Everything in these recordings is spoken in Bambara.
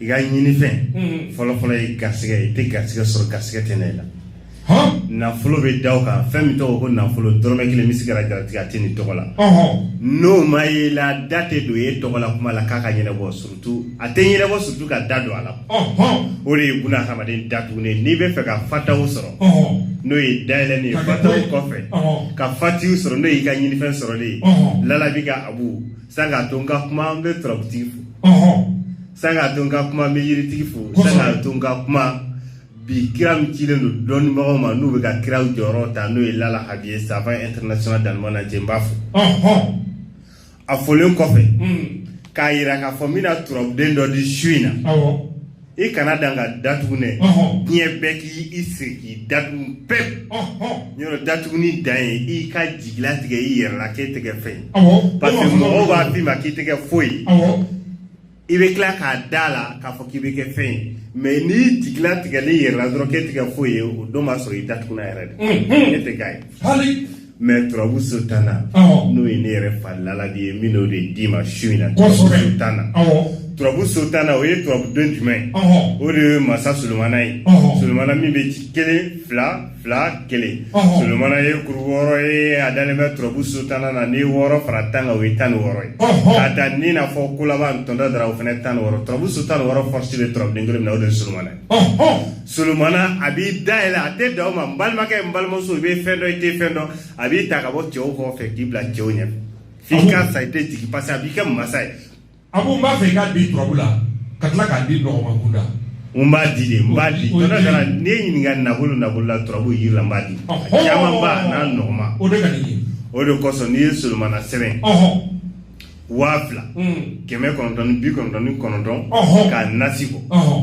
i ka ɲinifɛn fɔlɔfɔlɔ ye garisɛgɛ ye i tɛ garisɛgɛ sɔrɔ garisɛgɛ tɛ na i la nafolo bɛ da o kan fɛn min tɔgɔ ko nafolo dɔrɔmɛ kelen bɛ se ka garijɛ a tɛ ni tɔgɔ la n'o ma ye la da tɛ don e tɔgɔ la kuma la k'a ka ɲɛnabɔ surutu a tɛ ɲɛnabɔ surutu ka da don a la o de ye kunna hadamaden datugunnen n'i b'a fɛ ka fataw sɔrɔ n'o ye dayɛlɛn ye fataw kɔfɛ ka fati sɔrɔ n'o y'i ka ɲinifɛn sɔrɔlen ye lala bɛ ka abu San k'a to n ka kuma n bɛ turabutigi fo, ɔhɔɔ, san k'a to n ka kuma n bɛ yiritigi fo, kosɛbɛ, san k'a to n ka kuma bi kira min cilen don dɔnnibagaw ma n'u bɛ ka kiraw jɔyɔrɔ ta n'o ye Lala Habiye savant international d'Allemagne na je n b'a fo, ɔhɔɔ, a folen kɔfɛ, un, k'a yira k'a fɔ n bɛna turabuden dɔ di su in na, awɔ. i kana dan ka datugunen diɲɛ bɛɛ k'i sigi k'i datugu pewu yɛrɛ datuguni dan ye i ka jigilatigɛ i yɛrɛ la k'e tɛ kɛ fɛn ye parce que mɔgɔw b'a f'i ma k'i tɛ kɛ foyi i bɛ tila k'a da la k'a fɔ k'i bɛ kɛ fɛn ye mais n'i jigilatigɛlen i yɛrɛ la dɔrɔn k'e tɛ kɛ foyi ye o don b'a sɔrɔ i datuguna yɛrɛ de e tɛ k'a ye mais turabu so tan na n'o ye ne yɛrɛ fa laladi ye n bɛn'o de d'i ma su in na turabu so tan na turabu so tan na o ye turabuden jumɛn ye o de ye masa solomana ye solomana min bɛ ci kelen fila fila kelen solomana ye kuru wɔɔrɔ ye a dalen bɛ turabu so tan na n'i ye wɔɔrɔ fara tan kan o ye tan ni wɔɔrɔ ye k'a ta ni n'a fɔ ko laban tɔntɔ dara o fana tan ni wɔɔrɔ turabu so tan ni wɔɔrɔ force bɛ turabuden kelen min na o de ye solomana ye solomana a b'i dayɛlɛ a tɛ dan o ma n balimakɛ n balimamuso i bɛ fɛn dɔn i tɛ fɛn dɔn a b'i ta ka bɔ cɛw kɔfɛ k'i bila cɛw ɲɛ f'i ka sa i tɛ jigin parce que a b'i kɛ masa ye abu n b'a fɛ i k'a di turabu la ka tila k'a di nɔgɔma kunda n b'a di de n b'a di O- o- tɔnɔ kana n'i ye n ɲininka nafolo nafolo la turabu yiri la n b'a di Ɔhɔn. camanba n'a nɔgɔma o de ka di n ye o de kosɔn n'i ye solomana sɛbɛn ɔhɔn waa fila un, kɛmɛ kɔnɔntɔn ni bi kɔnɔntɔn ni kɔnɔntɔn Ɔhɔn. k'a nasi bɔ ɔhɔn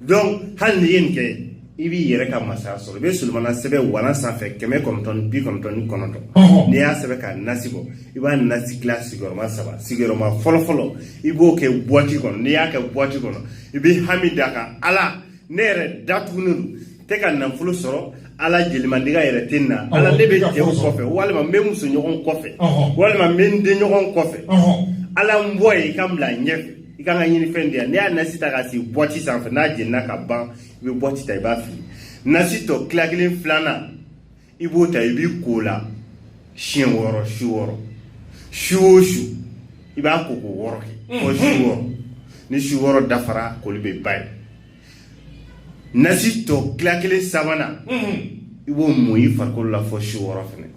donc hali n'i ye nin kɛ i b'i yɛrɛ ka masaya sɔrɔ i bɛ solomana sɛbɛn walan sanfɛ kɛmɛ kɔnɔntɔn ni bi kɔnɔntɔn ni kɔnɔntɔn n'i y'a sɛbɛn k'a nasi bɔ i b'a nasi tila sigiyɔrɔma saba sigiyɔrɔma fɔlɔfɔlɔ i b'o kɛ buwati kɔnɔ n'i y'a kɛ buwati kɔnɔ i bɛ hami d'a kan ala ne yɛrɛ datugunen don n tɛ ka nafolo sɔrɔ ala jelimandiya yɛrɛ tɛ n na ala ne bɛ cɛw kɔfɛ walima n bɛ musoɲɔgɔn kɔfɛ walima n bɛ n denɲɔgɔn kɔfɛ ala n bɔ yen i ka n bila ɲɛfɛ i ka n ka ɲinifɛn diya n'i y'a nasi ta ka sigi buwati sanfɛ n'a jenina ka ban i bɛ buwati ta i b'a fili nasi tɔ tila kelen filanan i b'o ta i b'i ko a la siɲɛ wɔɔrɔ su wɔɔrɔ su o su i b'a ko ko wɔɔrɔ kɛ fɔ su wɔɔrɔ ni su wɔɔrɔ dafara koli bɛ ban yen nasi tɔ tila kelen sabanan i b'o mun i farikolo la fo su wɔɔrɔ fɛnɛ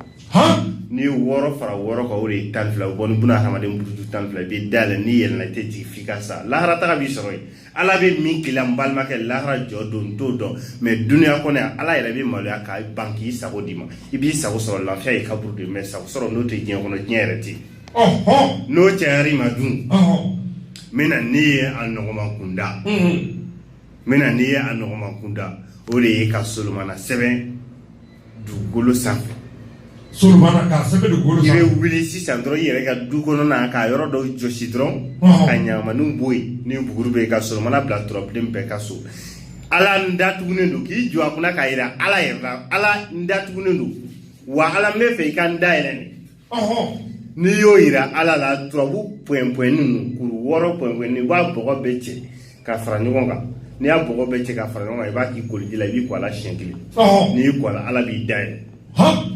n'i ye wɔɔrɔ fara wɔɔrɔ kan o de ye tan fila bɔ ni buna hadamaden buruju tan fila i bɛ dayɛlɛ n'i yɛlɛnna i tɛ jigin f'i ka sa lahara taga b'i sɔrɔ yen ala bɛ min k'i la n balimakɛ lahara jɔ don n t'o dɔn mɛ dunuya kɔnɔ yan ala yɛrɛ bɛ maloya k'a ban k'i sago d'i ma i b'i sago sɔrɔ lafiya ye kaburu de mɛ sago sɔrɔ n'o tɛ diɲɛ kɔnɔ diɲɛ yɛrɛ tɛ yen n'o cayar'i ma dun n bɛ na n'i ye a nɔgɔman kunda n bɛ na n'i ye a nɔgɔman kunda o de ye ka solomana sɛbɛn dugukolo sanfɛ i bɛ wuli sisan dɔrɔn i yɛrɛ ka du kɔnɔna ka yɔrɔ dɔw jɔsi dɔrɔn ka ɲamaniw bɔ yen ni buguri bɛ yen ka solomana bila turabuden bɛɛ ka so ala n datugunen don k'i jɔ a kunna k'a jira ala yɛrɛ la ala n datugunen don wa ala n bɛ fɛ i ka n dayɛlɛ n'i y'o yira ala la turabu pɔyɛn pɔyɛn ninnu kuru wɔɔrɔ pɔyɛn i b'a bɔgɔ bɛɛ cɛ ka fara ɲɔgɔn kan n'i y'a bɔgɔ bɛɛ cɛ ka fara ɲɔgɔn kan i b'a k'i koliji la i b'i ko a la siɲɛ kelen n'i y'i ko a la ala b'i dayɛlɛ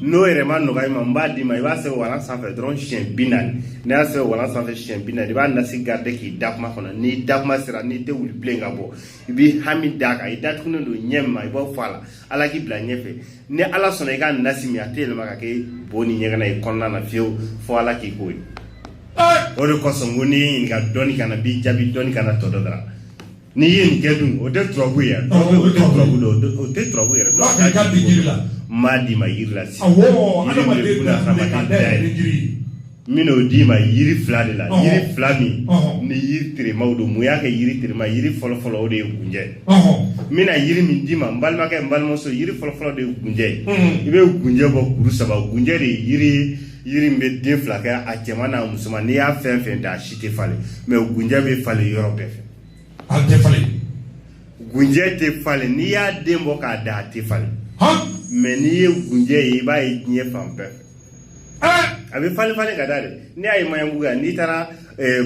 n'o yɛrɛ ma nɔgɔya i ma n b'a d'i ma i b'a sɛbɛn walan sanfɛ dɔrɔn siɲɛ bi naani n'i y'a sɛbɛn walan sanfɛ siɲɛ bi naani i b'a nasi garide k'i da kuma kɔnɔ n'i da kuma sera n'i tɛ wuli bilen ka bɔ i b'i hami d'a kan i datugunen don ɲɛ min ma i b'o fɔ a la ala k'i bila ɲɛfɛ ni ala sɔnna i ka nasi min a tɛ yɛlɛma ka kɛ bo ni ɲɛgɛnɛ y'i kɔnɔna na fiyewu fo ala k'i ko ye o de kosɔn ko n'i ye ɲininka dɔɔni kana b'i jaabi dɔɔni kana tɔ dɔ dara n'i ye nin kɛ dun o tɛ turabu ye o tɛ turabu dɔn o tɛ turabu yɛrɛ dɔn a ka di jiri la n b'a d'i ma yiri la sisan adamaden dayɛlɛ jiri N bɛn'o d'i ma yiri fila de la yiri fila min ni yiri teremaw don mun y'a kɛ yiri terema yiri fɔlɔfɔlɔ o de ye gunjɛ n bɛna yiri min d'i ma n balimakɛ n balimamuso yiri fɔlɔfɔlɔ de ye gunjɛ ye i bɛ gunjɛ bɔ kuru saba gunjɛ de ye yiri min bɛ den fila kɛ a cɛman n'a musoman n'i y'a fɛn fɛn da a si tɛ falen mɛ gunjɛ bɛ falen yɔrɔ bɛɛ fɛ a tɛ falen gunjɛ tɛ falen n'i y'a den bɔ k'a da a tɛ falen mɛ n'i ye gunjɛ ye i b'a ye diɲɛ fan bɛɛ fɛ a bɛ falen falen ka da de n'i y'a ye maɲanbugu yan n'i taara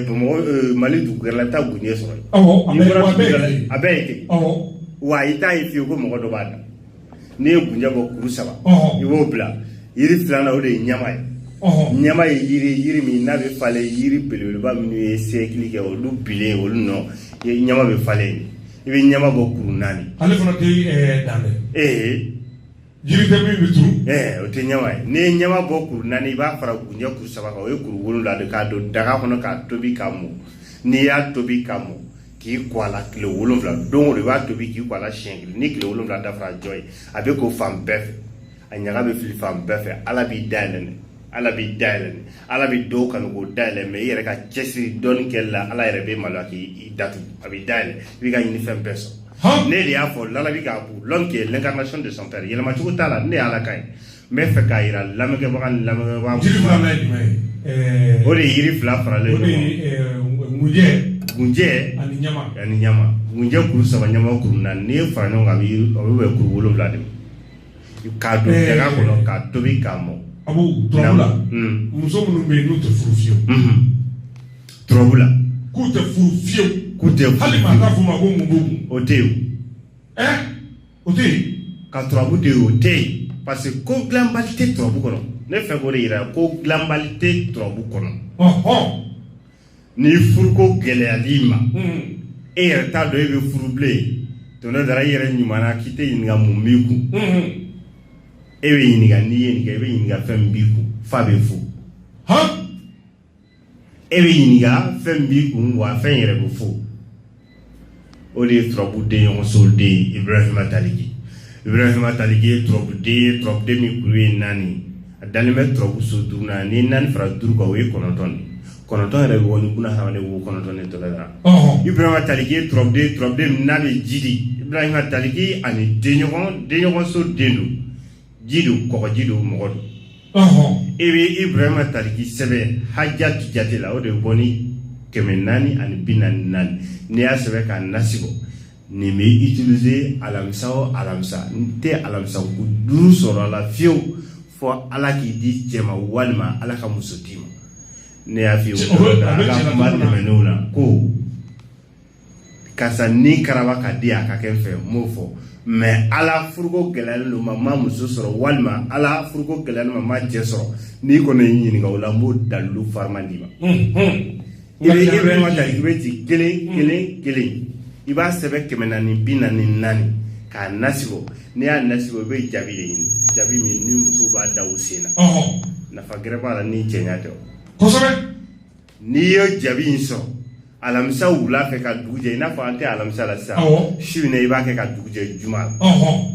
bamakɔ mali dugu wɛrɛ la i bɛ taa gunjɛ sɔrɔ yen a bɛɛ ye ten wa i t'a ye fiyewu ko mɔgɔ dɔ b'a da n'i ye gunjɛ bɔ kuru saba i b'o bila yiri filanan o de ye ɲama ye ɲama ye yiri yiri min n'a bɛ falen yiri belebeleba minnu ye siyɛkili kɛ olu bilen olu nɔ ɲama bɛ falen i bɛ ɲama bɔ kuru naani ale fana tɛ dan dɛ ee Jiri tɛ min bɛ turu, ɛɛ o tɛ ɲama ye, n'i ye ɲama bɔ kuru naani i b'a fara kunjɛ kuru saba kan o ye kuru wolonwula de k'a don daga kɔnɔ k'a tobi k'a mɔ n'i y'a tobi k'a mɔ k'i ko a la tile wolonwula don o don i b'a tobi k'i ko a la siɲɛ kelen ni tile wolonwula dafara jɔ ye a bɛ ko fan bɛɛ fɛ a ɲaga bɛ fili fan bɛɛ fɛ Ala b'i dayɛlɛ ala b'i dayɛlɛ ala bɛ dɔw kanu k'o dayɛlɛ mais i yɛrɛ ka cɛsiri dɔɔni kɛli la ala yɛrɛ bɛ maloya k'i datugu a b'i dayɛlɛ i b'i ka ɲinifɛn bɛɛ sɔrɔ ne de y'a fɔ lalabi ka abu l'homme qui est l'incarnation de son père yɛlɛma cogo t'a la ne y'ala ka ye n bɛ fɛ k'a yira lamɛnkɛbaga ni lamɛnkɛbaga jiri filanan ye jumɛn ye o de ye yiri fila faralen o de ye gunjɛ gunjɛ ani ɲama ani ɲama gunjɛ kuru saba ɲama kuru naani n'i y'a fara ɲɔgɔn kan a bɛ yiri a bɛ bɛn kuru wolonwula de ma K'a don daga kɔnɔ k'a tobi k'a mɔ. Abu turabu la. Un. Muso minnu bɛ yen n'u tɛ furu fiyewu. Unhun. Turabu la. K'u tɛ furu fiyewu. K'u tɛ furu fiyewu. Hali maa t'a f'u ma ko mun b'u kun. O tɛ yen. Ɛ o tɛ yen. Ka turabu to yen o tɛ yen parce que ko dilanbali tɛ turabu kɔnɔ ne bɛ fɛ k'o de yira ko dilanbali tɛ turabu kɔnɔ. Ɔhɔn! Ni furuko gɛlɛyal'i ma e yɛrɛ t'a dɔn e bɛ furu bilen tɔnɔ dara i yɛrɛ ɲuman na k'i tɛ ɲininka mun b'i kun e bɛ ɲininka n'i ye nin kɛ i bɛ ɲininka fɛn min b'i kun fa bɛ fo e bɛ ɲininka fɛn min b'i kun wa fɛn yɛrɛ bɛ fo o de ye turabu den ɲɔgɔnso den ye ibrahima taliki ibrahima taliki ye turabu den ye turabu den min kuru ye naani a dalen bɛ turabu so duuru na ni naani fara duuru kan o ye kɔnɔntɔn de kɔnɔntɔn yɛrɛ bɛ bɔ ni buna hadamaden wo kɔnɔntɔn de tɔgɔ la ibrahima taliki ye turabu den turabu den min n'a bɛ ji di ibrahima taliki ani denɲɔgɔn denɲɔgɔnso den don ji don kɔgɔji don mɔgɔ don ɔhɔn i bɛ ibrahima taliki sɛbɛn hajatu jate la o de bɛ bɔ ni kɛmɛ naani ani bi naani naani n'i y'a sɛbɛn k'a nasi ko nin bɛ utiliser alamisa o alamisa n tɛ alamisa kun duuru sɔrɔ a la fiyewu fo ala k'i di cɛ ma walima ala ka muso d'i ma ne y'a f'i ye Cɛ, o bɛ- o bɛ ala cɛ ka ka kuma kuma na. tɛmɛnenw na ko karisa ni karaba ka di a ka kɛ fɛ n m'o fɔ mais a la furuko gɛlɛyalen don ma ma muso sɔrɔ walima a la furuko gɛlɛyalen ma ma cɛ sɔrɔ n'i kɔni y'i ɲininka o la n b'o dalilu farima d'i ma ibrahima taliki bɛ ci kelen kelen kelen i b'a sɛbɛn kɛmɛ naani bi naani naani k'a nasi ko n'i y'a nasi ko i bɛ jabi de ɲini jabi min ni muso b'a da u sen na nafa gɛrɛ b'a la ni cɛɲa tɛ o kosɛbɛ n'i ye jabi in sɔrɔ alamisa wula fɛ ka dugu jɛ i n'a fɔ an tɛ alamisa la sisan Awɔ. su in na i b'a kɛ ka dugu jɛ juma la ɔhɔn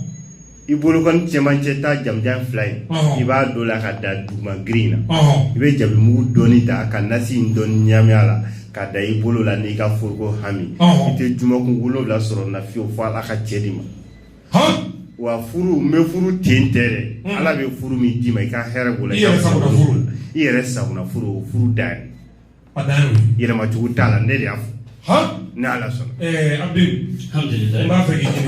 i bolokɔni cɛmancɛ ta jamujan fila in Ɔhɔn. i b'a don la ka da duguma girin na ɔhɔn i bɛ jabi mugu dɔɔni ta ka nasi in dɔɔni ɲami a la ka da i bolo la n'i ka furuko hami Ɔhɔn. i tɛ jumakun wolonwula sɔrɔ na fiyewu fo ala ka cɛ d'i ma wa furu n bɛ furu ten tɛ dɛ ala bɛ furu min d'i ma i ka hɛrɛ b'o la i yɛrɛ sagona furu furu dan ye yɛlɛmacogo t'a la ne de y'a fɔ ne ala sɔnna